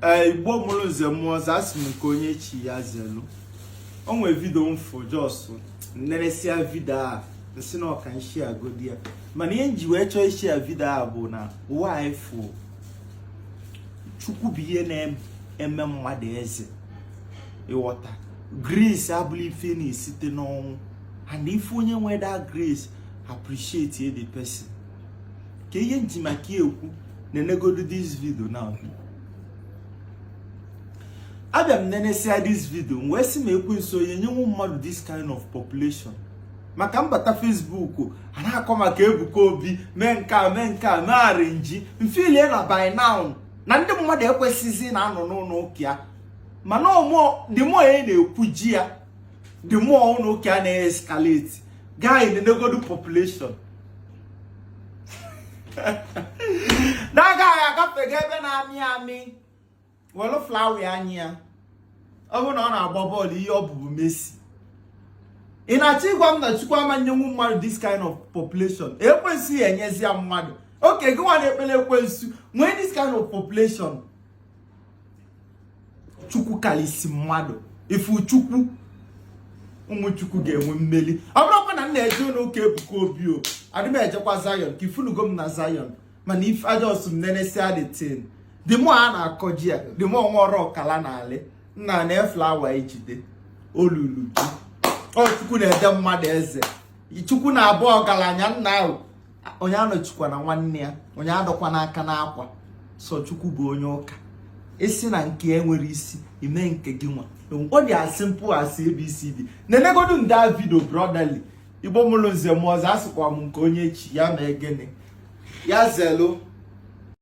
ee eh, igbo mụrụ nze mụọ ọzọ asị m nke onye chi ya zelu o nwere vidio m fụ just nneresịa vidio a nsị na ọ ka nshiagodi ya mana ihe nji wee chọọ ishia vidio a bụ na ụwa a ifu chukwu bụ ihe na-eme mmadụ eze ịghọta grace abụla ife na-esite n'ọnwụ and ị fụ onye nwe that grace appreciate the person ka ihe nji maka ekwu na-enegodu this vidio na abịa m nenesia this vidio m wee sị ma ekwensu ọ ya-enyenwu mmadụ this kind of population maka m bata Facebook a na-akọ maka Ebuka Obi mee nke a mee nke a mee arrange m feelie na by now na ndị mmadụ ekwesịghịzi na-anọ n'ụlọ ụka ya mana omo the more unu na-ekwujọ ya the more ụlọ ụka a na-escalate guy nenegodu population nna guy a agafego ebe na-amị amị welu flower nye ya ọ bụrụ na ọ na-agba bọọlụ ihe ọ bụ bụ Messi ị na-achọ ịgwa m na Chukwu ama nyenwu mmadụ this kind of population ekwensu enyezia mmadụ okay gị nwa na-ekpele ekwensu nwee this kind of population chukwu kalisi mmadụ ifu chukwu ụmụ chukwu ga-enwe mmeli ọ bụrọkwa na m na-eje ụlọ ụka ebuka obi o adị m ejekwa zion ka ị fụnugo m na zion mana ife a just m nenesia the thing the more a na-akọjọ ya the more nwa oru ọ kala na-alị nna nye ya flower ejide olulu ji ọ chukwu na-ede mmadụ eze chukwu na-abọ ọgalanya nna ahụ onye anọchikwana nwanne ya onye adọkwana aka n'akwa sọ chukwu bụ onye ụka ị sị na nke ya enwerọ isi ị mee nke gị nwa ọ dị as simple as abcd na-enegodu the vidio brotherly igbo mụrụ nze mụọ ọzọ asịkwa m nke onye chi ya ma egene ya zelu